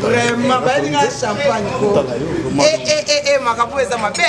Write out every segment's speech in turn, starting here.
vraiment balinga champagne ko makambo eza mabe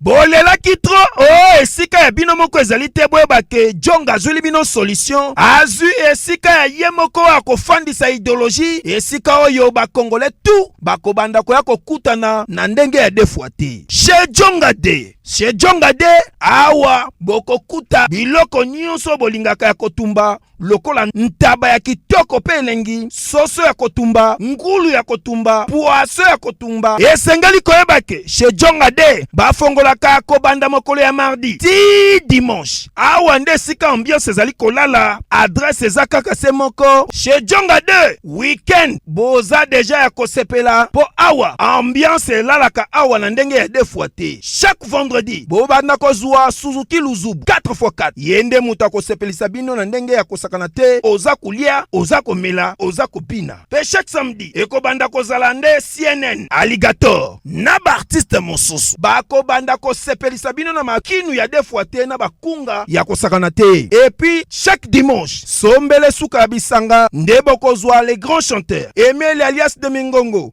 bolelaki tro o oh, esika ya bino moko ezali te boyeba ke jong azwili bino solution azwi esika ya ye moko oyo akofandisa ideologie esika oyo bakongole tu bakobanda koya kokutana na ndenge ya defwa te she jonga de she jonga de awa bokokuta biloko nyonso bolingaka ya kotumba lokola ntaba ya kitoko mpe elengi, soso ya kotumba, ngulu ya kotumba, pwaso ya kotumba. Esengeli koyeba ke chez Jonga de bafongolaka kobanda mokolo ya mardi ti dimanche. Awa nde esika ambiance ezali kolala, adresse eza kaka se moko chez Jonga de. Weekend boza deja ya kosepela mpo awa ambiance elalaka awa na ndenge ya defwa te. Chaque chaque vendredi bobanda kozwa suzuki luzubu 4x4 ye nde moto akosepelisa bino na ndenge ya kosakana te oza kolia oza komela oza kobina mpe chaque samedi ekobanda kozala nde cnn alligator na baartiste mosusu bakobanda kosepelisa bino na makinu ya defwa te na bakunga ya kosakana te epuis chaque dimanche sombele suka ya bisanga nde bokozwa le grand chanteur emeli alias de mingongo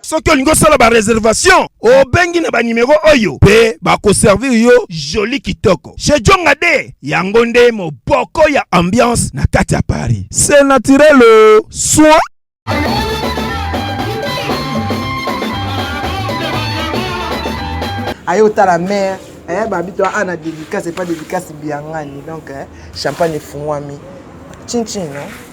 soki olingi osala bareservation obengi na banimero oyo mpe bakoservir yo joli kitoko chez jonga de yango nde moboko ya ambiance na kati ya paris se naturel oh, soin aye otala mare eh, babi to ana dédicace epa dédicace biangani donc eh, champagne efungwami chinchin no?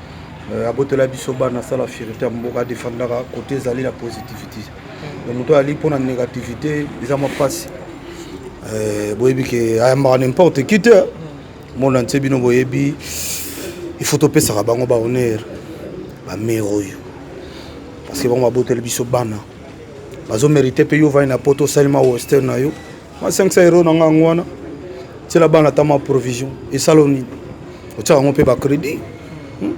Euh, abotela biso bana asala fierité ya mboka adefandaka kote ezali na positivité donc moto ayali mpo na négativité eza mwa mpasi euh, boyebi ke ayambaka n'importe qui te mona nse bino boyebi il faut topesaka bango bahonneur bamere oyo parce que bango baboteli biso bana bazo mérite mpe yo ovandi na poto osalima western na yo ma 500 euro na nga yango wana tiela bana ata ma provision esala nini otyaka yango mpe bacrédit hmm?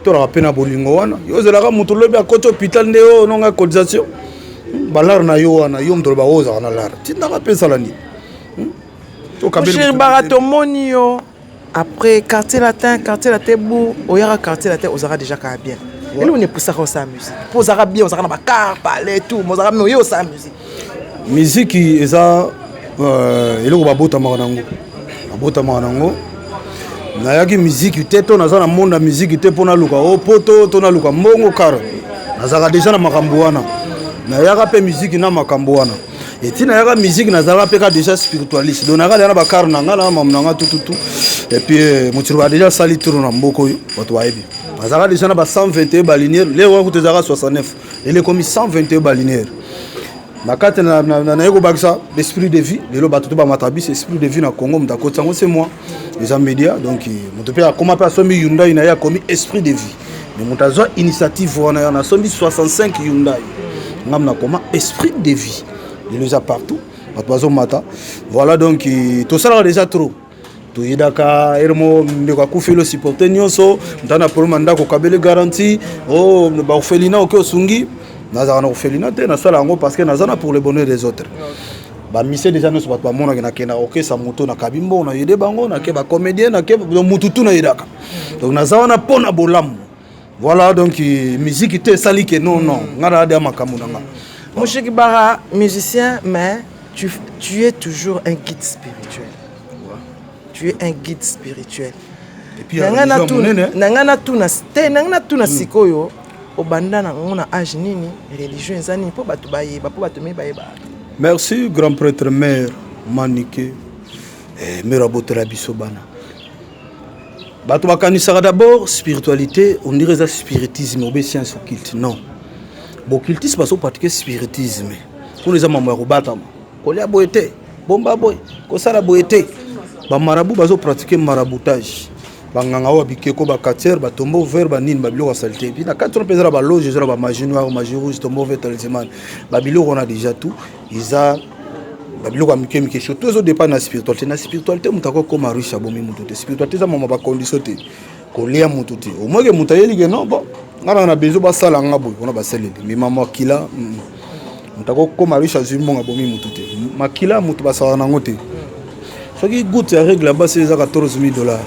tolaka mpe na bolingo wana yo ozelaka moto lobi akoti hôpital nde oyo oh, nonga cotisation hmm? balare na yo wana yo moto loba oyo oh, ozalaka na lare tindaka mpe esala nini hmm? tokabelbara tomoni yo Après quartier latin, quartier latin bourg, oyaka quartier latin ozalaka déjà kaka bien. Ouais. Eloko nepusaka osala musique. Po ozalaka bien, ozalaka na ba car, palais tout, mais ozalaka mais oye osala musique. Musique eza euh, eloko babotamaka nango. Babotamaka nango. Nayaki musique te to naza na monde ya musique te mpo naluka o oh, poto to naluka mbongo kara. Nazalaka déjà na makambo wana. Nayaka mpe musique na makambo wana. eti nayaka musique nazalaka mpe ka déjà spiritualiste donc nayaka deja na bakare na ngai na mamu na ngai tututu epuis euh, motiloba deja asali tour na mboka oyo bato bayebi azalaka deja na ba 121 baliniere leo wana kutu ezalaka 69 lelo ekomi 121 baliniere na kati naye kobakisa esprit de vie lelo bato to bamata biso esprit de vie na congo moto akoti yango se moi eza media donc moto mpe akoma mpe asombi hyundai na ye akomi esprit de vie mais moto azwa initiative wana yana asombi 65 hyundai ngam nakoma esprit de vie lelo eza partout bato bazomata voilà donc tosalaka déjà trop toyedaka ere mo ndeko akufeli osupporte nyonso ntana problema ndako kabele garanti o oh, bakofelina oke osungi nazalaka na kofelina te nasala yango parce que naza na pour le bonheur des autres okay. ba mise deja nyonso bato bamonaki nakenda kokesa moto nakabi mbongo na yede bango nake bacomédien nake motu tu nayedaka donc naza wana mpo na bolamu voilà donc miziki te esali ke non non ngai nayade ya makambo na ngai moshiki bara musicien mais tu, tu es toujours un guide spirituel tu es un guide spirituel na ngai natuna te na ngai natuna sikoyo Obanda na ngo na age nini? Religion eza nini po batu bayeba po batu mibale ba. Merci grand prêtre mère Manike. Eh, mère abotola biso bana. Bato bakanisaka d'abord spiritualité, on dirait eza spiritisme obe science occulte. Non. Boccultisme bazo pratique spiritisme. Kuna eza mambo ya kobatama. kolia boye te bomba boye kosala boye te bamarabu bazo pratique maraboutage banganga oyo bikeko bacatiere batombo vert banini babiloko ya salite epuis na kati wana mpe eza na baloge eza na bamagie noire magie rouge tombo vert talisman babiloko wana déjà tout eza babiloko ya mike mike surtout ezodépend na spiritualité na spiritualité moto akokoma riche abomi moto te spiritualité eza mama bacondition te kolia mutu te au moins ke mutu ayeli ke non bon nga na na besoin basala nga boye wana basaleli mais ma makila mutu akokoma riche azwi mbongo abomi mutu te makila mutu basala nango te soki gout ya règle ya basi eza 14 000 dollars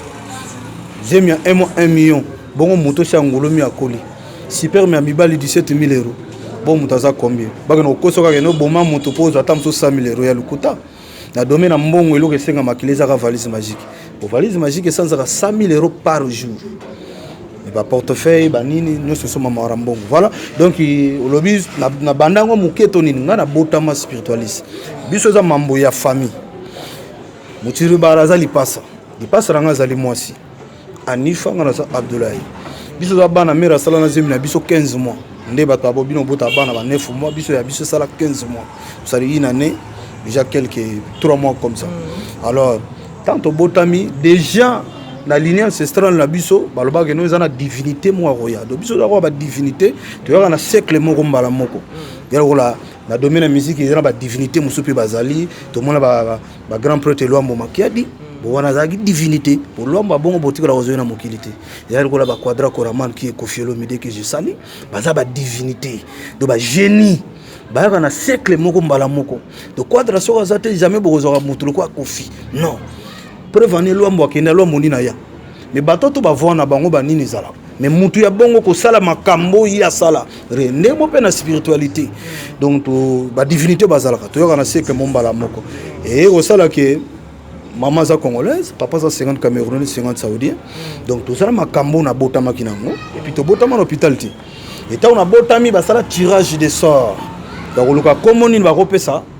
zemi ya 1 mois 1 million bongo moto osi angolomi akoli superme ya mibali 17 000 euro bo moto aza combien bakende kokosa kaka ene oboma moto mpo ozwa ata mosusu 100 000 euro ya lokuta na domaine ya mbongo eloko esenga makila ezaka valise magique po valise magique esanzaka 100 000 euros par jour ba portefeuille ba nini nyonso esomama wara mbongo voilà donc olobi na banda yango moke to nini ngai nabotama spiritualiste biso eza mambo ya famille motiribara aza lipasa lipasa na ngai azali mwasi Anifa nga naza Abdoulaye biso za bana mère asala na zemi na biso 15 mois nde bato ya bobino bota bana ba 9 mois biso ya biso esala 15 mois osali une année déjà quelques 3 mois comme ça mm. alors tant tobotami déjà na ligne ancestrale na biso balobaka keno eza na divinité moko akoya donc biso tozakoya badivinité toyaka na siècle moko mbala moko mm. ya lokola na domaine ya musique eza na badivinité mosusu mpe bazali tomona ba grand prêtre Luambo Makiadi mm. bo wana azalaki divinité po Luambo abongo botikala kozoi na mokili te ezali lokola ba quadra coraman qui est Koffi Olomide que je sali baza ba divinité do ba génie bayaka na cercle moko mbala moko do quadra soki aza te jamais bokozwaka motu lokola Koffi non preuve ane Luambo akenda Luambo nini aya mais bato to bavua na bango banini ezalaka mais mutu ya bongo kosala makambo oyo asala re ndenge mo mpe na spiritualité donc badivinité bazalaka toyoka na siècle mo mbala moko eye kosala ke mama aza congolaise papa aza 50 camerounais 50 saoudien donc tozala makambo oyo nabotamaki nango epuis tobotama na hôpital te etango nabotami basala tirage de sort bakoluka komo nini bakopesa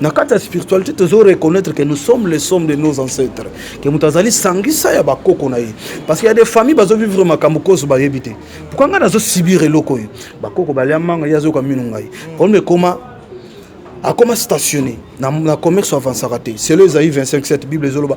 na kati ya spiritualité tozo reconnaître que nous sommes les sommes de nos ancêtres que moto azali sangisa ya bakoko na ye parce que ya des familles bazo vivre makambo kozo bayebi te pourkua ngai nazo subir eloko oyo bakoko balia manga ye azoyoka mino ngai problème ekoma akoma stationné na, na commerce avansaka te selo ezali 25 7 bible ezoloba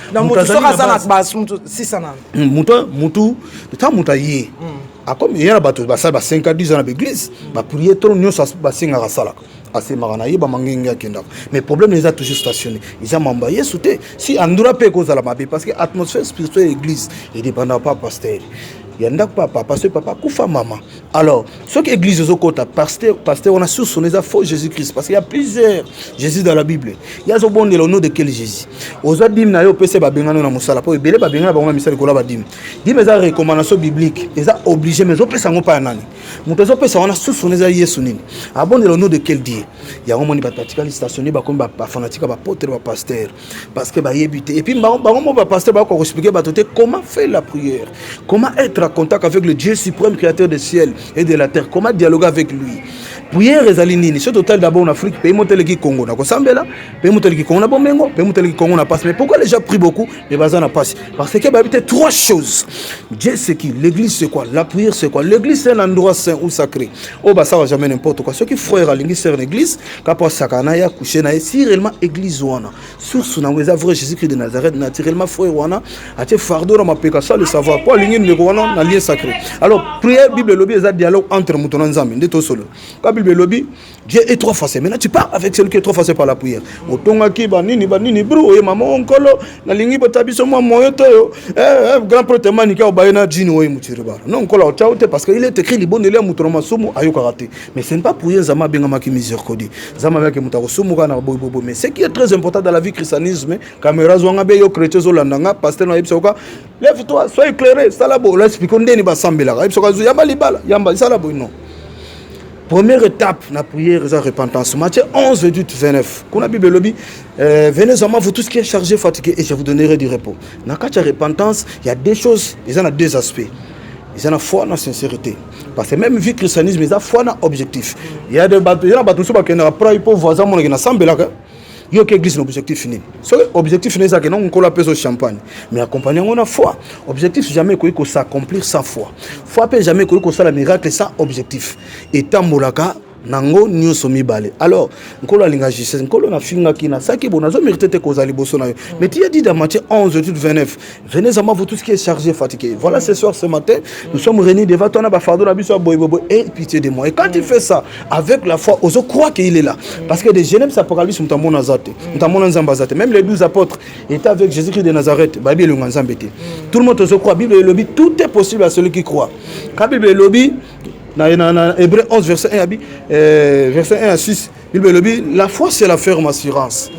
na moto soki aza na basi moto sisa na hmm, moto moto ntango moto aye hmm. akomi eya na bato basali ba 5 a 10 ans na baeglise hmm. bapriere to nyonso basengaka asalaka asemaka na ye bamangenge akendaka mais problème eza toujours stationné eza mambo ya yesu te si andura mpe ekozala mabe parce que atmosphère spirituelle ya église edépendaka pa pasteur ya ndako papa parce que papa akufa mama alors soki église ezokota pasteur pasteur wana source wana eza faux jésus christ parce qu'il y a plusieurs jésus dans la bible ye azobondela au nom de quel jésus ozwa dime na yo opesa babengano na mosala mpo ebele babengana bango na misala likolo ya badime dime eza recommandation biblique eza obligé mais ezopesa yango mpa ya nani moto ezopesa wana source wana eza yesu nini abondela au nom de quel dieu yango moni bato batikali stationne bakomi bafanatika bapotre bapasteur parce que bayebi te et puis bango bango mo ba pasteur ba ko expliquer bato te comment faire la prière comment être en contact avec le Dieu suprême créateur du ciel et de la terre comment dialoguer avec lui prière ezali nini soki totali d'abord na afrique pays moteleki congo na kosambela pays moteleki congo na bomengo pays moteleki congo na pasi mais pourquoi les gens prient beaucoup mais baza na pasi parce que bayebi te trois choses dieu c'est qui l'église c'est quoi la prière c'est quoi l'église c'est un endroit saint ou sacré oyo oh, basalaka jamais n'importe quoi soki frère alingi sœur na église kapo asaka na ya couche na ye si réellement église wana source nango eza vrai jésus christ de nazareth naturellement frère wana atie fardeau na mapeka sans le savoir po alingi ndeko wana na lien sacré alors prière bible elobi eza dialogue entre moto na nzambe nde tosolo ka bible elobi dieu est trois fois maintenant tu parles avec celui qui est trois fois par la prière otongaki banini banini bro oye mama o nkolo nalingi bota biso mwa moyo toyo eh, eh, grand prote manike obaye na jini oye motiribara non nkolo aotya yo te parce que il est écrit libondeli ya moto na masumu ayokaka te Mais ce n'est pas pour rien Zama abengamaki miséricorde. Zama avec muta ko sumuka na boy bobo mais ce qui est très important dans la vie christianisme, caméra zwanga be yo chrétien zo landanga pasteur na yebisa ka lève toi sois éclairé sala bo la explique ndeni ba sambela ka yebisa ka zo yamba libala yamba sala bo non. Première étape la prière et la repentance. Matthieu 11, 28, 29. Quand la Bible dit, euh, venez à moi, vous tous qui êtes chargés, fatigués, et je vous donnerai du repos. Dans la repentance, il y a deux choses, il y a deux aspects. eza na foi na sincérité parce que même vie christianisme eza foi na objectif ya de bato eza na bato mosusu bakendaka prai mpo voisin amonaki nasambelaka yo ke église na objectif nini soki objectif nini ezalaki nongo nkolo apesa champagne mais accompagne yango na foi objectif jamais ekoki kosaccomplir sans foi foi mpe jamais ekoki kosala miracle sans objectif etambolaka nango nyonso mibale alors nkolo alinga justice nkolo nafingaki nasaki bo nazo mérite te kozala liboso na yo mm. mais tiya dit dans matthieu 11 étude 29 venez à moi vous tout ce qui est chargé fatigué voilà ce soir ce matin nous sommes réunis devant toi na bafardeau na biso ya boyebobo et pitié de moi et quand il mm. fait ça avec la foi ozo croit qu'il est là mm. parce que de genèse apocalypse moto amona aza te moto amona nzambe aza te même les 12 apôtres étaient avec jésus christ de nazareth bayebi elonga nzambe te tout le monde ozo croit bible elobi tout est possible à celui qui croit ka bible elobi na, na, na Hébreu 11 verset 1 abi euh, verset 1 à 6 Bible elobi la foi c'est la ferme assurance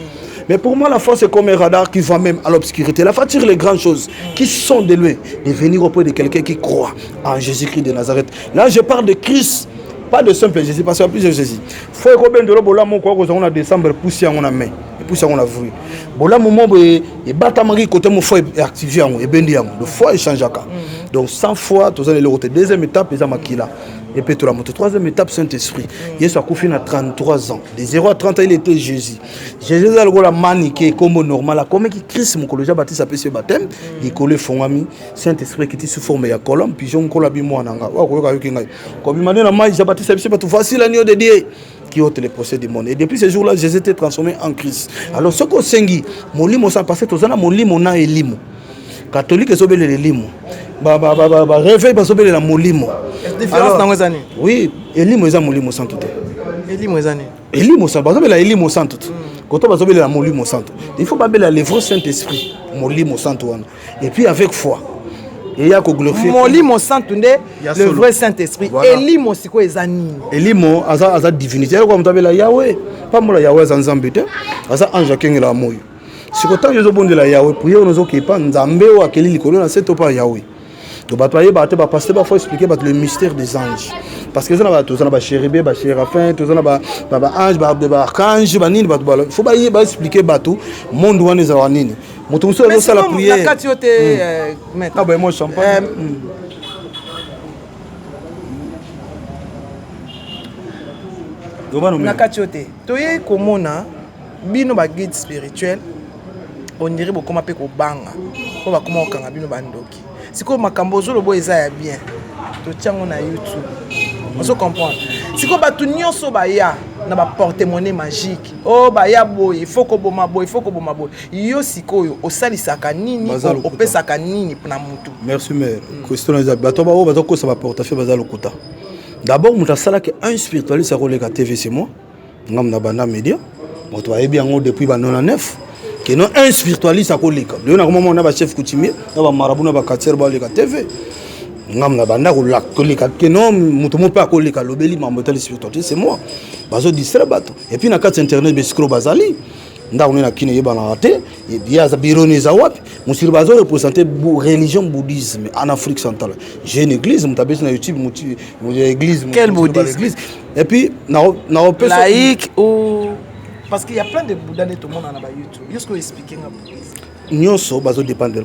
mais pour moi la foi c'est comme un radar qui voit même à l'obscurité la foi tire les grandes choses qui sont de loin de venir auprès de quelqu'un qui croit en Jésus-Christ de Nazareth là je parle de Christ pas de simple Jésus parce qu'il y a plusieurs Jésus faut ekobendelo bolamu kwa kozango na décembre pousse yango na main epusi yango na vue bolamu moko boye ebatamaki kote mo foi eactive yango ebendi yango le foi echangeaka mhm. donc sans foi toza na eloko te deuxième étape eza makila epetola moto troisième étape saint esprit mhm. yesu akufi na 33 ans de 0 à 30 ans il était jésus jésus eza lokola manike ekombo normal akomeki christ mokolo ja batisa apesi ye bateme mhm. likolo efongwami saint esprit ekiti sous forme ya colombe pigeon nkolo abi mwana nga oyo akoyoka yoki ngai kobima nde na mai ja batisa biso bato facile anio de dieu qui ôte les procès du monde. Et depuis ce jour-là, Jésus était transformé en Christ. Alors, ce qu'on sengi, molimo ça parce que tous na molimo na elimo. Catholique ezobele elimo. Ba ba ba ba, ba réveil bazobele la molimo. Différence na ngozani. Oui, elimo eza molimo sans tout. Elimo eza ni. Elimo ça bazobele elimo sans tout. Quand on bazobele la molimo sans tout. Il faut babele le vrai Saint-Esprit, molimo sans tout wana. et puis avec foi eya koglorifie molimo santu nde le vrai saint esprit voilà. elimo sikoyo eza nini elimo aza, aza divinité ayoko moto abela yawe pambola yawe aza nzambe te aza ange akengela ya moyo sikoyo ntango ezobondela yawe priere ono ozokepa nzambe oyo akeli likolo na se to mpa yawe to bato bayebaka te bapaste bafo explike bato le mystère des anges parce que eza na bato toza na bachéribé bachérafin toza na baange baarchange banini bato fo baexplike bato monde wana ezalaka nini moto mosusu azosala prièrekati yo te aboyemo hmm. euh, ah, champagne euh, hmm. na kati yo te toyei komona bino baguide spirituel ondire bokoma mpe kobanga mpo bakoma kokanga bino bandoki sikoyo makambo ozoloba oyo eza ya bien totya yango na youtube ozo comprendre sikoyo bato nyonso baya na baportemone magique o oh, baya boye ifo koboma boye ifo koboma boye yo sikoyo osalisaka nini opesaka nini na motu merci mare question eza bato baoyo baza kokosa baportefeuille baza lokuta d'abord moto asalaki un spiritualiste akoleka tv c'est moi ngam na banda media moto bayebi yango depuis ba 99 keno un spiritualiste akoleka leyo nakoma mona ba chef coutumier na ba marabu na ba quartier baleka tv ngam na banda koleka keno moto mo mpe akoleka alobeli mambo etali spiritualiste c'est moi bazo distraire bato epuis na kati internet bescro bazali ndako nde na kino eyebanaka te ye aza bironi eza wapi mosiri bazo represente religion bouddhisme en afrique centrale j'ai une église moto abeti na youtube église quel bouddhisme et puis naopesa laïque ou parce qu'il y a plein de bouddha nde tomona na ba youtube yo sikoyo explique nga bouddhisme nyonso bazo dépendre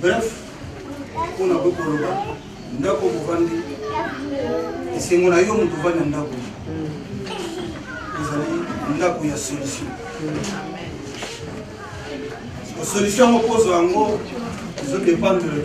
bref mpo na koki koloba ndako bovandi esengo na yo moto ovandi na ndako ezali ndako ya solution solution yango kozwa yango ezodependre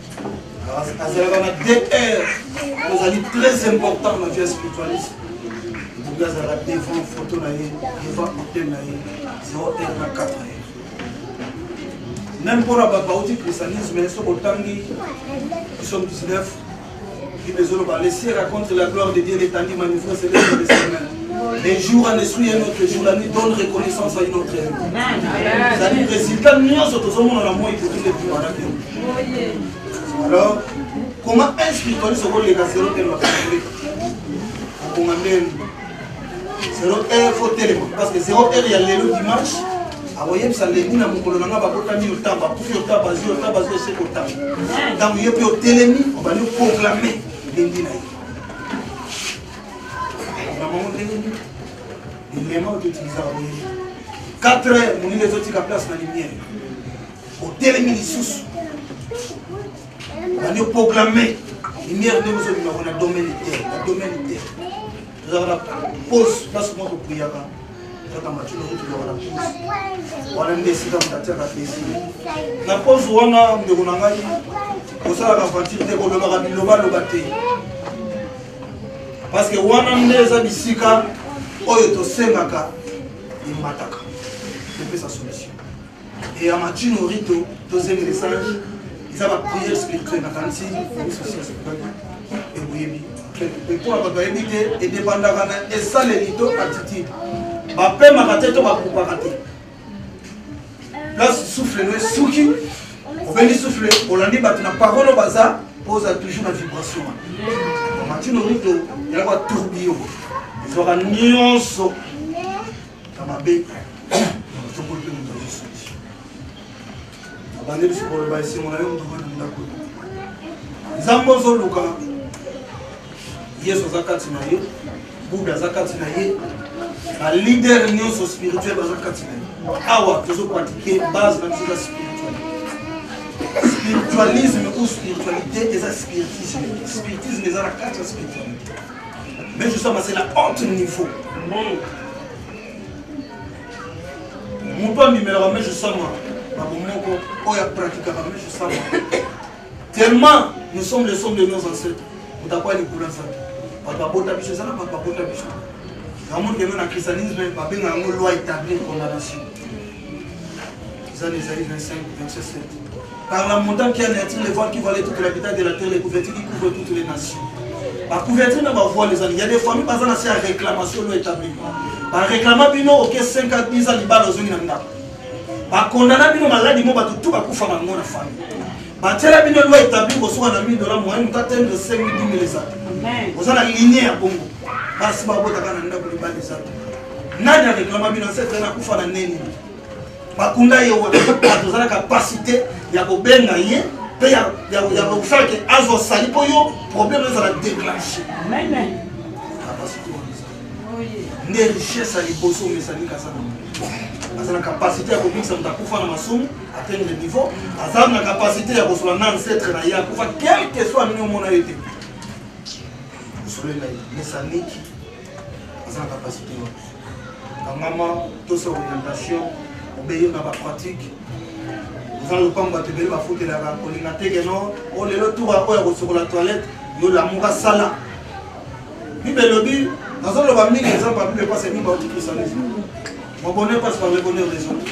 azalaka na dr ozali très important na vie spiritualiste okoki azalaka devant photo na ye devant hotel na ye 0 r na 4 ye meme mpona babauti christianisme soki otangi biso 19 Bible ezoloba le ciel raconte la gloire de Dieu l'étendue manifeste de ses mains. Les jours en esprit et notre jour la nuit donne reconnaissance à une autre ezali résultat nyonso tozomona na moi ekoki lepimana te alors comment un spiritualiste okoleka zero te makambo okoma ndeni zero heure fo telema parce que zero heure ya lelo dimanche akoyebisa lendi na mokolo na ngai babotami yo ntango bakufi yo ntango bazwi yo ntango bazwi ese kotanga ntango yo mpe otelemi obandi oproklame lendi na ye namango ndenge nini elema oyo toutilisaka boye 4 heures molili ezotika place na lumière otelemi lisusu obandi oproklame lumière ndenge ozobima ko na domaine terre na domaine terre tozalaka na pose place mwa kopriyaka kaka matino oyo tozalaka na pose wana nde esika moto atiaka pesi na pose wana ndeko na ngai kosalaka vantire te kolobaka bilobaloba te parce que wana nde eza bisika oyo tosengaka emataka epesa solution Et à Matino Rito, deuxième message, ils ont la prière spirituelle, la fancy, la société spirituelle, et vous avez mais mpo na bato bayebi te edepandaka na esaleli to attitude bapemaka te to bakupaka te place souffle no esuki obendi souffle olandi bato na parole oyo baza mpo oza toujours na vibration wana matino mito yalaka tourbillon ezwaka nyonso na mabe tokoli mpe moto azosuki abandi biso koloba esengo na yo moto wana ndako nzambe ozoluka yesu aza kati na ye buda aza kati na ye balider nyonso spirituel baza kati na ye awa tozopratike base na biso eza spirituel spiritualisme ou spiritualité eza spiritisme spiritisme eza na kati ya spiritualité Mais je sens c'est la haute niveau. Amen. Moto abimelaka mais je sens moi. Babomoko oyo apratikaka mais je sens moi. Tellement nous sommes les sommes de nos ancêtres. Mutakuwa likula sana. Bato babota biso eza na bato babota biso. Namoni keno na christianisme babengaka yango loi établie condamnation. Zan Esaïe 25, verset 7. Par la montagne qui anéantit les voiles qui voilaient toute la vitesse de la terre, les couvertures qui couvrent toutes les nations. Ba couverture na ba voile ezali. Il y a des familles baza na se réclamation lo établi. Ba réclama bino OK 5 à 10 ans libala ozongi na ndako. Ba condamna bino maladi mo bato tout bakufa bango na famille. Ba tela bino loi établi kosuka na 1000 dollars moyen mutu atende 5000 10 000 ezali. Oza na ligne ya bongo. Basi babotaka na ndako libala ezali. nani a réclama bino cette année akufa na nini bakunda ye wana tozala capacité ya kobenga ye mpe ya kosala ke azwa sali mpo yo problème ezala déclenche nde richesse ya liboso omesani kasana aza na capacité ya kobikisa moto akufa na masumu atendre niveau aza na capacité ya kosolola na ancetre na ye akufa quelque soit nini omona ye te osolela ye mesaniki aza na capacité wana kangama tosa orientation obeyo na bapratique oza lopango bato ebele bafutelaka kolinga te keno o oh, lelo tour oyo ya kosokola toilette yo lamuka sala bible elobi nazoloba mingi exemple ya bible mpasi mingi baotikisana mobonne mpasi par le bonheur des autres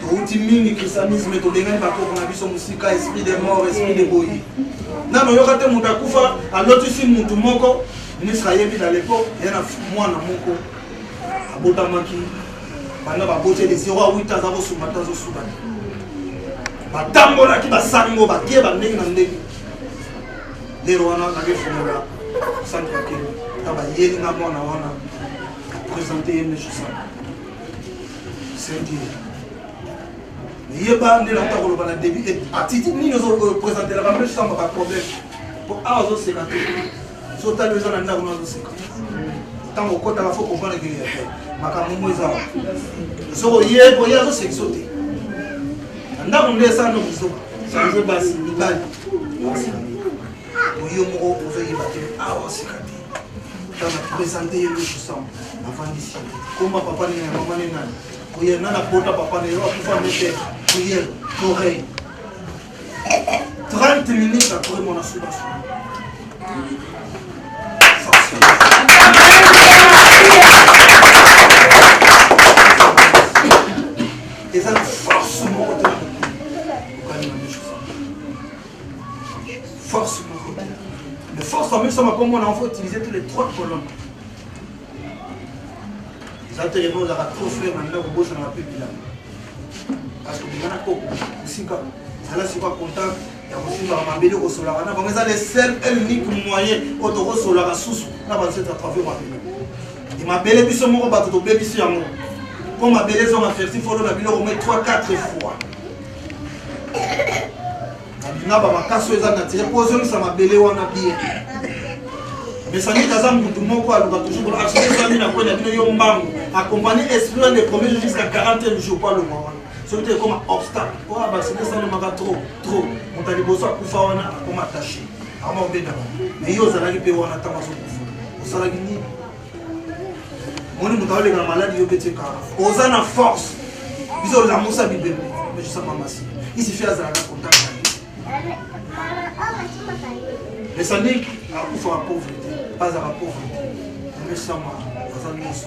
touti mingi christianisme tobengani bakoko na biso mosika esprit de mort esprit de boyi nano oyoka te moto akufa alotisi motu moko ministre ayebi na lepo ya na mwana moko abotamaki banda baboti ele 0 a 8 aza kosunga te azosuka te batambolaki basango bakie bandenge na ndenge lelo wana nakefungola centre ya kelo ta bayeli na mwana wana présente ye nde josana sendie yeba nde nakuta koloba na début et attitude nini ozopresentelaka mpe samba ba problème mpo awa ozoseka te sotali eza na ndako na ozoseka ntango okotaka fo comprendre ke makambo mo eza wa soki oye boye azosekiso te na ndako nde esala nokiso change basi mibali oyo moko ozoyeba te awa sika te tana présente ye lusu sam avandisi koma papa nene mama ne nani oye nana bota papa ne yo akufa mete oye torey 30 minutes après mon asubasua Force moko. Le force en mixant ma comme on a faut utiliser tous les trois colonnes. Ça te répond à trop frère maintenant au boss on a plus bilan. Parce que bien à coco, aussi pas. Ça là c'est pas content. ya kosimba mabele kosolaka na bango eza le seul et unique moyen oyo tokosolaka susu na banseto ya travio mabele e mabele biso moko bato tobebisi yango mpo mabele ezonga ferti folo na biloko mai 3 4 fois nga ba makasi oyo eza natire mpo ozongisa mabele wana bie mesanite aza mutu moko aluka toujours arsezami na kwena bino yo mbangu akompani esprit wana epromet yo jusqu'à 41 jour mpo alonga wana soki te ekoma obstacle mpo abasite esalemaka trop trop moto ya liboso akufa wana akoma attaché ama obendaka mais yo ozalaki mpe wana ntango azokufa osalaki nini moni moto aoleka na maladi yo beti kara oza na force biso olamusa bibembe mejisa mamasi isifi azalaka contact esaniki akufa ba pauvrete bazala pauvrete mesama aza nyonso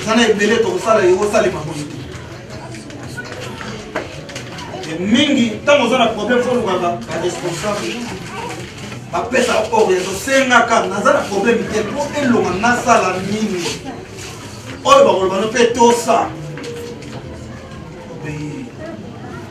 eza na ebele tokosala yango osalema boye te mingi ntango oza na problème fo olukaka baresponsable bapesa oriento sengaka naza na problème te mpo elonga nasala nini oyo bakoloba no mpe tosa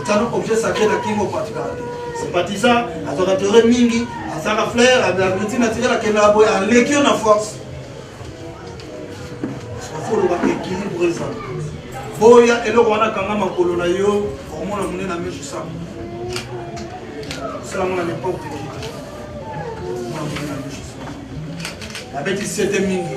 otano objet sacré na kingo particularité sympathisant azwaka teore mingi asaka flair ablabilité naturel akendaka boye aleki yo na force ofoloba équilibre eza boya eloko wana kanga makolo na yo omona monene na miso sa osala mona n'importe qui omona monene na miso sa abeti sete mingi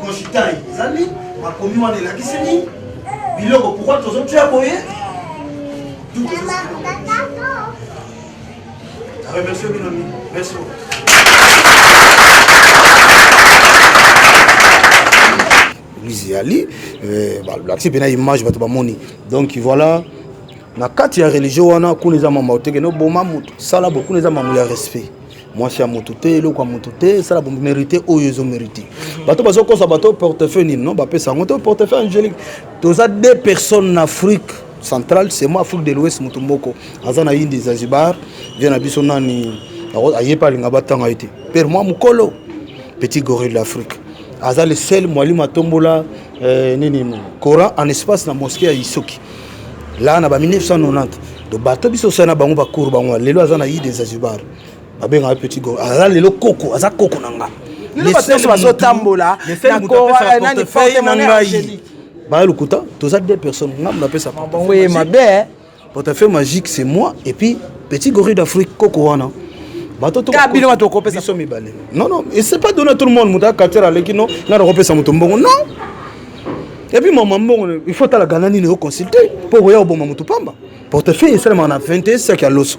Consultant ezali makomi wana elakisi nini biloko pourkoi tozotia boye remercie bino mingi merci église eyali eh, balakisi mpena image bato bamoni donc voilà na kati ya religio wana kuna eza mambo oteke noboma moto sala bo kuna eza mambo ya respect mwasi ya motu te eloko ya motu te esala bomerite oyo ezo merite mhm. bato bazokosa bato portefeuille nini non bapesa yango te portefeuille angélique toza deux personnes na afrique centrale c'est moi afrique de l'ouest motu moko aza na inde zanzibar vie na biso nani aye pa alinga batanga ye te pere mwa mokolo petit gorille d'afrique aza le seul mwalimu atombola eh, nini coran en espace na mosquée ya isoki laa na ba 1990 to bato biso osali na bango bakour bango lelo aza na ide zanzibar babengaka petit go aza lelo koko aza koko na nga nyonso bazotambola nani porte monnaie angélique baya lokuta toza deux personnes ngambo napesa bango ye mabe eh. portefeuille magique c'est moi et puis petit gorille d'afrique koko wana bino bato okopesa biso mibale non non et c'est pas donné à tout le monde moto akatela aleki no nga nakopesa moto mbongo non et puis mama mbongo il faut talaka na nini oconsulte mpo okoya koboma moto pamba portefeuille esalemaka na 21 saki ya loso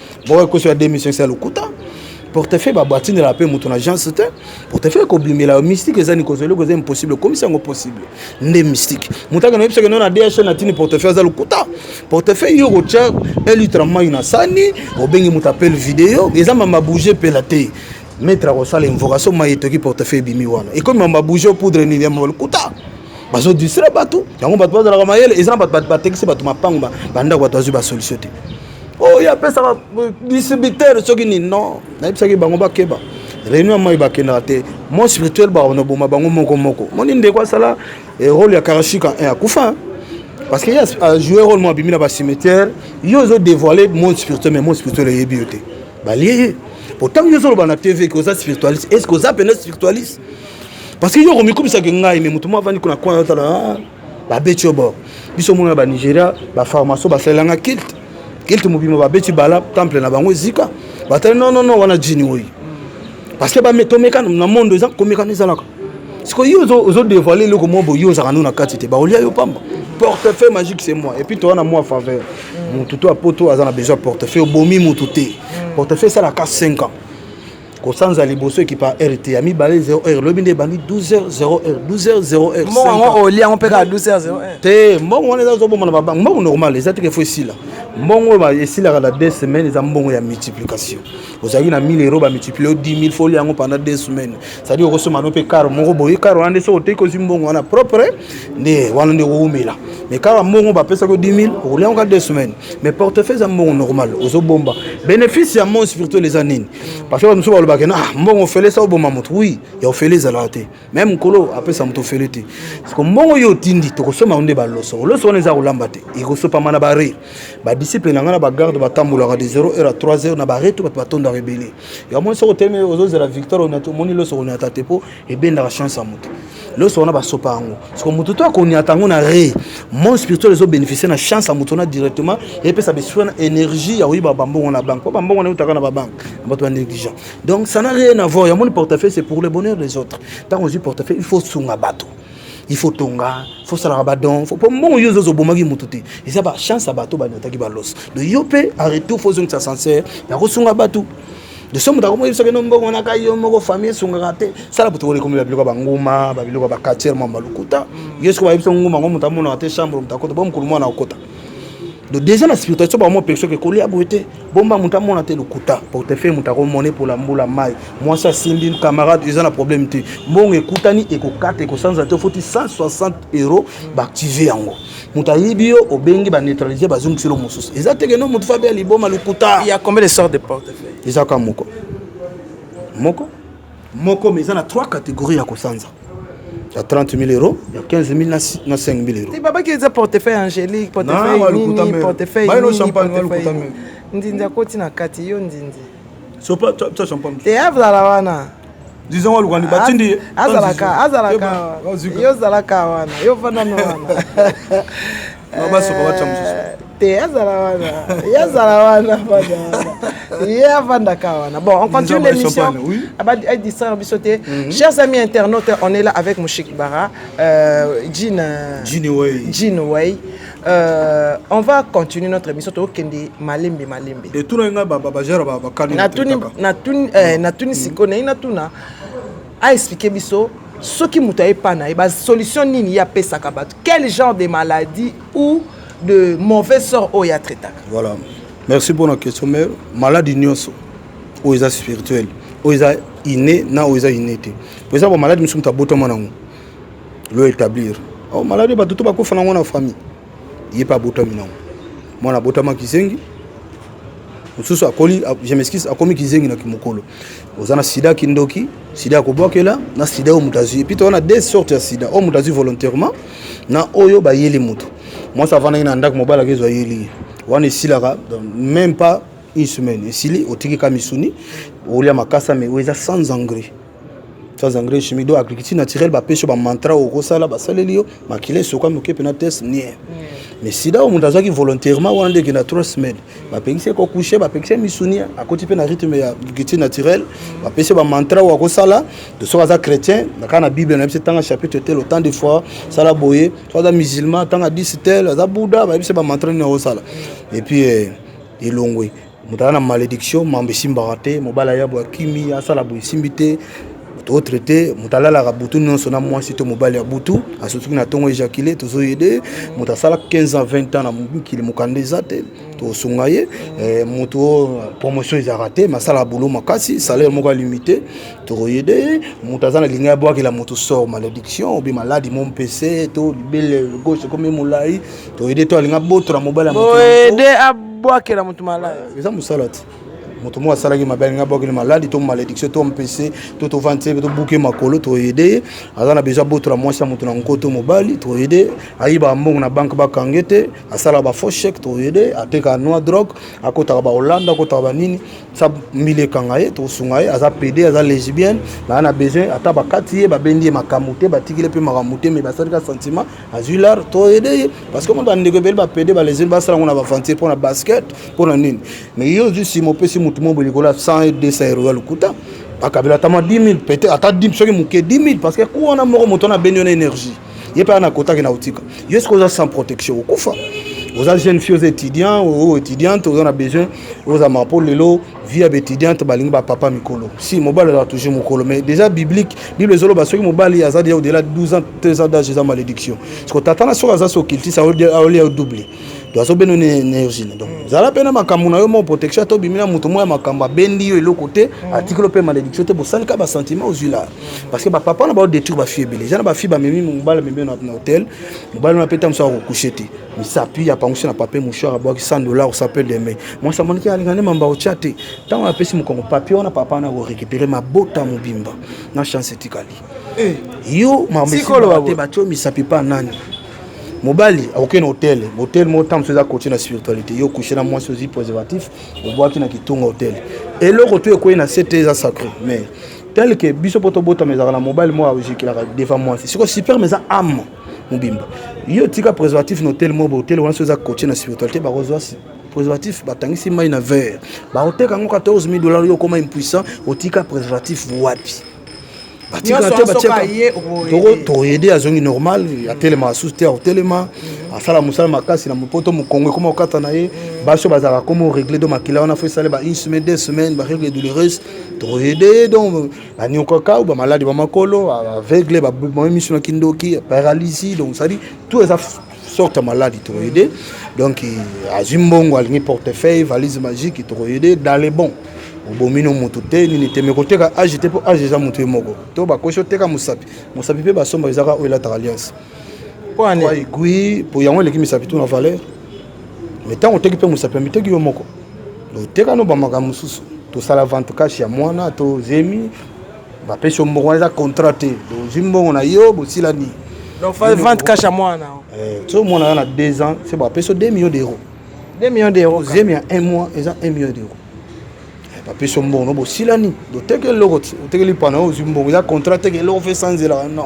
bokoki kosala de mission esa lokuta portefeuille babatindela mpe moto na agence te portefeuille ekobimela yo mystique eza nikozo eloko eza impossible okomisa yango possible nde mystique moto akende oyebisaki no na dhl na tini portefeuille aza lokuta portefeuille yo okotya elitre mai na sani obengi moto apele video eza mama bouge mpela te maître akosala invocation mai etoki portefeuille ebimi wana ekomi mama bouge poudre nini ya mama lokuta bazo distraire bato yango bato bazalaka mayele eza na bato batekisi bato mapango bandako bato bazwi basolution te oyo oh, apesaka distributeur soki nini non nayebisaki bango bakeba réunion ya mai bakendaka te mon spirituel bakonoboma bango moko moko moni ndeko asala eh, role ya karashika eh, akufa parce que ye ajoue role mo abimi na bacimetière yo ozo dévoile mon spirituel mais mon spirituel eyebi yo te balie ye po ntango yo ozoloba na tv ke oza spiritualiste est ce que oza mpena spiritualiste parce que yo okomikumisa ke ngai me moto mo avandi kuna kwana otala ah, babeti yo bor biso mona ba nigeria bafarmaso basalelanga kilte kilte mobima babeti bala temple na bango ezika batali nonono wana jini oyo parce que tomeka na monde eza komekana ezalaka sikoy yo ozodevoile eloko moko boye ozalaka no na kati te baolia yo pamba portefeuille magique c'est moi epuis toza na mwa faveur motu to apoto aza na besoin portefeuille obomi motu te portefeuille esalaka 5 ans kosanza liboso ekipa heure te ya mibale 0 heure lobi nde ebandi 12 h 0 heure 12 h 0 heure mbongo yango olia yango mpe kaka 12 h 0 heure te mbongo wana eza ozoboma na babanke mbongo normal eza teke fo esila mbongo oyo esilaka na 2 semaines eza mbongo ya multiplication ozalaki na 1000 euro bamultiplie 10 000 folia yango pendant 2 semaines cetadi okosomba no mpe karo moko boye karo wana nde soki oteki ozwi mbongo wana propre nde wana nde okowumela mais kaka mbongo bapesaki 10 000 okolia yango ka 2 semaines mais portefeuille eza mbongo normal ozobomba bénéfice ya mon spirituel eza nini parce que bato mosusu balobaka na ah, mbongo ofele sa oboma moto wi ya ofele ezalaka te meme mokolo apesa moto ofele te siko mbongo yo otindi tokosomba nde baloso oloso wana eza kolamba te ekosopama na bare badisiple na ngai na bagarde batambolaka de 0 heure à 3 heure na bare to bato batondaka ebele yango moni soki otelemi ozozela victoire omoni loso konyata te mpo ebendaka chance ya moto loso wana basopa yango soko moto to akoniata yango na re monde spirituel ezo bénéficie na chance ya moto wana directement epesa besprit wana énergie ya koyiba bambongo na banque mpo bambongo wana eutaka na babanque na bato ya négligent donc ça n'a rien avoir ya moni portefeuille c'est pour le bonheur des autres ntango ozwi portefeuille il faut sunga bato il faut tonga faut salaka badon mpo mbongo yo ozozo obomaki motu te eza bachance ya bato baniataki baloso donc yo mpe en retour fo ozongisa sancer ya kosunga bato de somo moto akomoyebisa bino mbongo wana kai yo moko famille esungaka te sala butu oyo ekomi babiloko ya banguma babiloko ya bakatiere mwa balukuta yo soki bayebisa nguma yango moto amonaka te chambre moto akota bo mokolo mwana akota do déjà na spiritualité soki bamwa mpe soki ekolia boye te bomba moto amona te lokuta portefeuille moto akomone mpola mbula mai mwasi asimbi camarade eza na problème te mbongo ekutani ekokata ekosanza te ofoti 160 euro baactive yango moto ayibi yo obengi ba neutralise bazongisi lo mosusu eza teke no moto fabe ya liboma lokuta ya combien de sort de porte eza kaka moko moko moko mais eza na trois catégorie ya kosanza ya 30 000 euros ya 15 000 na 5 000 euros babaki eza portefeuille angélique portefeuille nini portefeuille nini portefeuille ndindi akoti na kati yo ndindi te azala wana disons waluka ni batindi ye azalaka azalaka yo ozalaka wana yo vandana wana basoka batya mosusu eh, te azala wana ye azala wana fanda wana ye afandaka wana bon on continue l'émission adistraire biso te mhm. chers amis internautes on est là avec moshik bara euh, jean jean way Euh, on va continuer notre émission tokokende malembe malembe etunaki ngai bajara bakani natuni eh, mm. sikoyo naye natuna aexplike biso soki moto aye pa na ye basolution nini ye apesaka bato quel genre de maladie ou de mauvais sort oyo ya traitaka voilà merci mpo na question mais maladi nyonso oyo eza spirituel oyo eza ine na oyo eza ine te mpo eza bamaladi mosusu moto abotama nango lo établir oh, malade bato to bakufa nango na famille ye mpe abotami nango mwana abotama kizengi mosusu akoli je m'excuse akomi kizengi na kimokolo oza na sida kindoki sida ya kobwakela na sida oyo moto azwi epito wana deux sorte ya sida oyo moto azwi volontairement na oyo bayeli moto mwasi avandaki na ndako mobali akezo ayeli ye wana esilaka même pas une semaine esili otiki ka misuni olia makasa mais oyo eza sans engrais sans engrais chimie donc agriculture naturelle bapesi yo bamantra oyo okosala basaleli yo makila esoka moke mpena test nie mais sida oyo moto azwaki volontairement wana nde ekenda trois semaines bapekisi ye kokouche bapekisi ye misuni akoti mpe na rythme ya agriculture naturelle bapesi ye bamantra oyo akosala to soki aza chrétien kaka na bible nayebisi tanga chapitre tel autant de fois sala boye soki aza musulman tanga 10 tel aza bouddha bayebisi bamantra nini akosala et puis eh, elongwe moto aza na malediction mambo esimbaka te mobali aya boye akimi asala boye esimbi te moto otraite moto alalaka butu nyonso na mwasi to mobali ya butu asotuki na ntongo ejakile tozoyede moto asala 15 ans 20 ans na mokili mokanda eza te tosunga ye eh, moto oyo promotion ezalaka te masala bulo makasi salaire moko alimite tokoyede ye moto aza na linga ya bwakela moto sort malediction obi maladi mompese to libele gauche ekomi molai toyede to alinga botola mobali ya motoyede abwakela moto malaya eza mosala te moto moko asalaki mabe alinga abwakeli maladi to malédiction to mpese to tovandi te tobuke makolo toyede ye aza na besoin abotola mwasi ya moto na nko to mobali toyede ayibaka mbongo na banke bakange te asalaka bafaux chèque toyede atekaka noa drogue akotaka baholanda akotaka banini sa mbili ekanga ye tosunga ye aza pede aza lesbienne naa na besoin ata bakati ye babendi ye makambo te batikile mpe makambo te me basalika sentiment azwi lar to aide ye parce que mona bandeko ebele bapede balezeli basala ngo na baventure mpo na basket mpo na nini mais yo ozwi nsima opesi motu mo boye likolo ya 100 200 euro ya lokuta akabela atama 10 000 peut-être ata soki moke 10 000 parce que ku wana moko moto wana abeni yo na énergie ye mpe ana kotaki na kotika yo soki oza sans protection okufa oza jeune fille oza étudiant o étudiante oza na besoin ozama mpo lelo vie ya baetudiante balingi bapapa mikolo si mobali azala toujours mokolo mais déjà biblique bible ezoloba soki mobali aza deja odela 12 ans 13 ans d'age eza malédiction siko tata na soki aza so kiltise aolia double to azobeno na energie na donc mm. zala mpe na makambo na yo moko protection ata obimi na moto moko ya makambo abendi yo eloko te mm. atikelo mpe malédiction te bosalika basentiment ozwi la mm. parce que bapapa na baodétruire bafille ebele eza na bafille bamemi mobali amemi na hôtel mobali wana mpe ntango mosusu akokushe te Il s'appuie apangusi na papier mouchoir abwaki 100 dollars osape deme mwasi amoniki alinga nde mamba otya te ntango apesi mokongo papier wana papa wana akorekipere mabota mobimba na chance etikali eh. yo mamesikote batyo misapi pa nani mobali akokei na hotel hotel moko ntango mosusu eza cote na spiritualité yo kushe na mwasi ozwi préservatif obwaki na kitunga hotel eloko to ekwei na sete eza sacré mais tel que biso mpo tobotama ezalaka na mobali moko aozikelaka devant mwasi sikoyo superme eza ame mobimba yo tika préservatif na hotel mobo hotel wana so eza coache na spiritualité bakozwa préservatif batangisi mai na vert baoteka yango 14 000 dollars yo okoma impuissant otika préservatif wapi batikala te batiaka tokoyede azongi normal atelema asusu te akotelema asala mosala makasi na mopoto mokongo ekoma kokata na ye basi oyo bazalaka komo regle do makila wana fo esaleba une semaine deux semaine baregle douloureuse tokoyede ye donc baniokaka ou bamaladi ba makolo aveugle baboma miso na kindoki paralysie donc cest dire tout eza sorte ya maladi tokoyede donc azwi mbongo alingi portefeuille valise magique tokoyede dans le bon obomi no moto te nini te me koteka age te mpo age eza moto ye moko to bakoki oteka mosapi mosapi mpe basomba ezaka oyo elataka alliance aigui po yango eleki misapi to na valeur mais ntango oteki mpe mosapi ya miteki yo moko oteka no bamakambo mosusu tosala vente cash ya mwana to zemi bapesi yo mbongo wana eza contrat te ozwi mbongo na yo bosilani vente cash ya mwana eh, so mwana aza na 2 ans se bapesi yo 2 millions d'euros 2 millions d'euros zemi ya 1 mois eza 1 million d'euros eh, bapesi yo mbongo no bosilani oteki eloko te otekeli pana yo ozwi mbongo eza contrat teke eloko fe sanzela non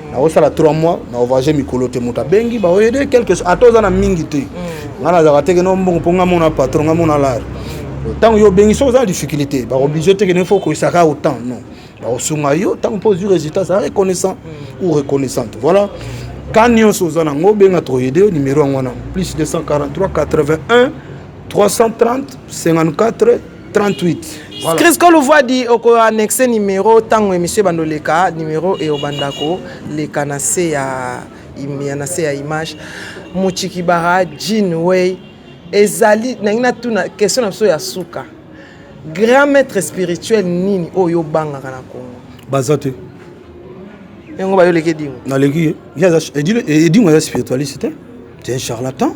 nakosala 3 mois na ovoyage mikolo te moto abengi baoyede quelque chose ata oza na mingi te mm. ngai nazalaka teke no mbongo mpo ngai mona patron ngai mona lare ntango yo obengi soki oza na difficulté baoblige teke ne fo okoyisaka autant non bakosunga yo ntango mpo ozwi résultat za reconnaissant mm. ou reconnaissante voilà ka nyonso oza nango obenga toyede yo numero yango wana plus 243 81 330 54 38 voilà. Chris Kolouvadi oko annexe numéro tango emission bando leka numéro et obandako leka na se ya ya na se ya image Muchikibara Jean Way ezali nangi na tuna question na biso ya suka grand maître spirituel nini oyo obangaka na Congo baza te yango bayoleki edingo naleki ye edingo aza spiritualiste te c'est un charlatan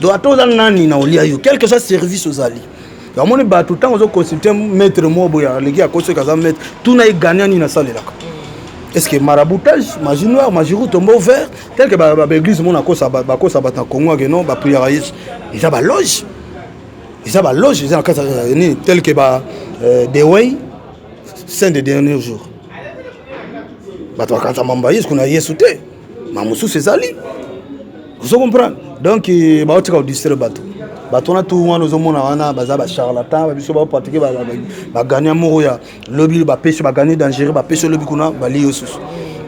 donc ata oza nani na olia yo quelque soit service ozali yamoni bato ntango ozo consulte maître moko boye aleki akosi soki aza maître tuna ye gania nini asalelaka est ce que maraboutage magie noire magie roux tombeau vert tel que baeglise mona bakosa bato na congo ake non bapriaka yesu eza baloge eza baloge eza na kati ya nini tel que ba euh, deway saint de dernier jour bato bakanisa mambo ya yesu kuna yesu te ma mosusu ezali ozo comprendre donc eh, baotika kodistraire bato bato wana tu wana ozomona wana baza bacharlatan babiso bapratike bagania moko ya lobi bapesi bagani dangereux bapesi lobi kuna bali yo susu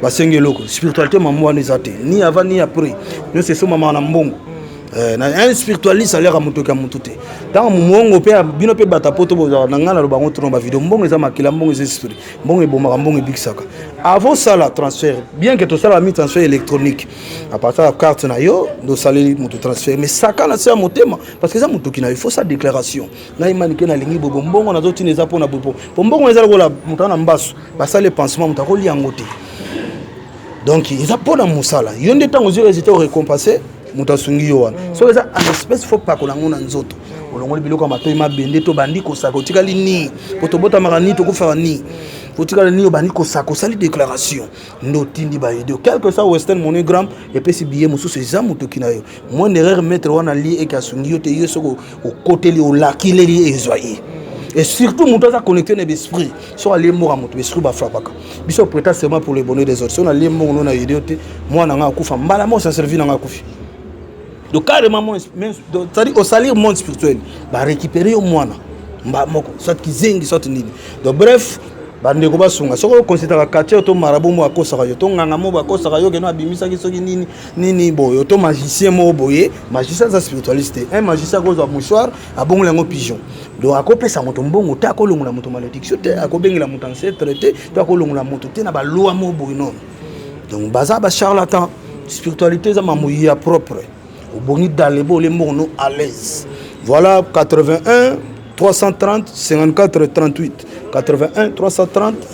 basengi eloko spiritualité mambo wana eza te ni avant ni après nyonso esomamaka na mbongo eh, na un spiritualiste aliaka motoki ya motu te ntango mongo mpe bino mpe bata poto bozala na ngai naloba yango tuna bavideo mbongo eza makila mbongo eza esprit mbongo ebomaka mbongo ebikisaka avant osala transfert bien que tosala mi transfert électronique apartir ya carte na yo ndosaleli moto transfert mais saka na se ya motema parce que eza motoki na yo faut sa déclaration ngai manike nalingi bobo mbongo nazotina eza mpo na bobo mpo mbongo eza lokola moto ana mbasu basali epansement moto akolia yango te donc eza mpo na mosala yo nde ntango ozwi résultat orécompense moto asungi yo wana soki eza en espèce faut pakola yango na nzoto olongoli biloko ya matoi mabende to bandi kosaka otikali nini po tobotamaka nini tokufaka nini otikali nini obandi kosaka osali déclaration nde otindi baide quelque soit western monogramme epesi biye mosusu eza motoki na yo moins d'erreur maître wana lie eke asungi yo te yo soki okoteli olakileli ezwa ye et surtout moto aza connecté na besprit soki alie mboka moto besprit bafrapaka biso preta seulement pour le bonheur des autres so nalie mbongo no na yede yo te mwana nga akufa mbala mo sa servi na nga akufi donc carrément mon c'est-à-dire au salir monde spirituel ba récupérer yo mwana mba moko soit kizengi soit nini donc bref bandeko basunga soki okonsitaka quartier to marabu moko akosaka yo to nganga moko akosaka yo keno abimisaki soki nini nini boye to magicien moko boye magicien aza spiritualiste te un magicien akozwa mouchoir abongoli yango pigeon donc akopesa moto mbongo te akolongola moto malédiction te akobengela moto ancetre te to akolongola moto te na balwa mo boye nono donc baza bacharlatan spiritualité eza mambo ya propre obongi dalebo ole mbongo no à l'aise voilà 81 330 54 38 81 330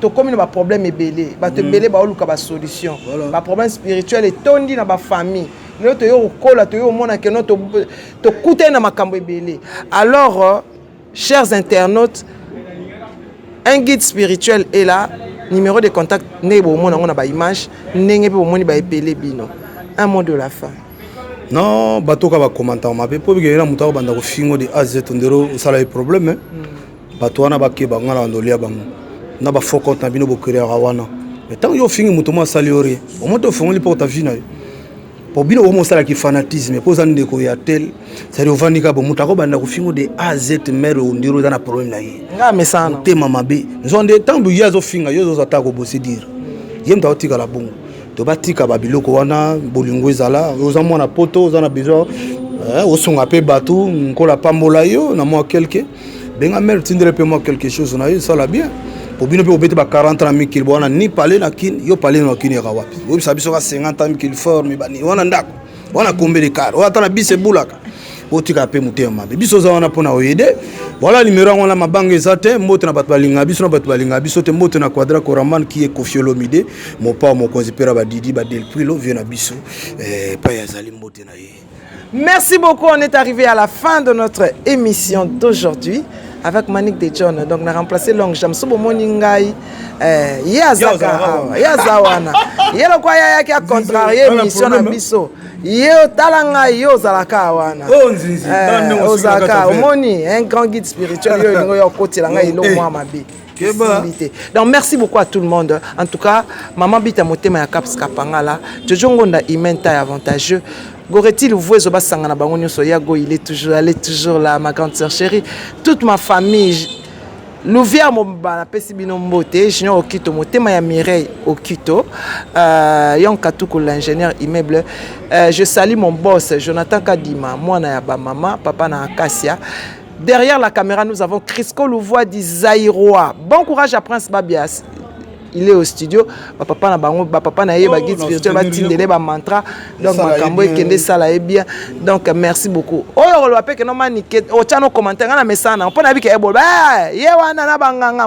tokomi na baproblème ebele bato mm. ebele baoluka basolution baproblème spirituel etondi na bafamille lelo toyei kokola toyei komona keno tokutani na makambo ebele alors euh, chers internautes un guide spirituel est là numéro de contact ndenge bomona yango na baimage ndenge mpe bomoni baepele bino un mot de la fin non batoka bakomantaka mabe mpo bikeyela moto akobanda kofingo de az tondero osala ye problème mm. Bato wana bakeba nga na bandoli ya bango na ba faux compte na bino bokreaka wana mais ntango yo ofingi moto mo asali yo rien omo te ofongoli mpo ta vie na yo mpo bino omo osala ki fanatisme mpo oza ndeko ya tel cetadi ovandi kaka bo moto akobanda kofingo de a z mare ondiro oza na problème na ye nga mesana motema mabe nzoa nde ntango ye azofinga yo ozozwa ata kobose dire ye moto aotikala bongo to batika babiloko wana bolingo ezala oza mwana poto oza na besoin eh, osunga mpe bato nkola apambola yo na mwa kelke benga mère tindele pe moi quelque chose na yo sala bien po bino mpe obeti ba 40 na mikili bwana ni pale na kin yo pale na kin yaka wapi oyebisa biso ka 50 ans mikili forme bani wana ndako wana kombele kar oyo ata na bisi ebulaka botika mpe motema mabe biso oza wana mpona oyede voilà nimero yango wana mabanga eza te mbote na bato balinga biso na bato balinga biso te mbote na quadra coraman ki ye kofiolomide mopao mokonzi mpera badidi badelprilo vie na biso epai eh, azali mbote na ye Merci beaucoup, on est arrivé à la fin de notre émission d'aujourd'hui avec Manik de John. Donc, on a remplacé Long Jam. Sobo Moningai, euh, Yazaka, Yazawana. Yelo kwa yaya qui a contrarié l'émission na biso. Yo talanga yo zalaka wana. Oh nzinzi, eh, ozaka omoni un grand guide spirituel yo lingo yo kotela ngai elo mwa mabe. donc merci beaucoup à tout le monde en tout cas maman bita motema ya caps kapangala jojo ngonda imenta ya avantageux goreti luvu ezo basangana bango nyonso ya go il est toujours elle est toujours là ma grande sœur chérie toute ma famille louvière mobimba napesi bino mbote junior okito motema ya mireille okito euh, yon katuku l'ingénieur immeuble euh, je salue mon boss jonathan kadima mwana ya bamama papa na akasia Derrière la caméra, nous avons Crisco Louvois du Zaïrois. Bon courage à Prince Babias. Il est au studio. Ba papa na bango, ba papa na ye, ba oh, guide spirituel, ba tindele, ba mantra. Donc makambo ekende sala ye bien. Donc merci beaucoup. Oyo oh, lo apeke no manike, o oh, chano commentaire na message na. Pona bike ebo. Ba, ye wana na banganga.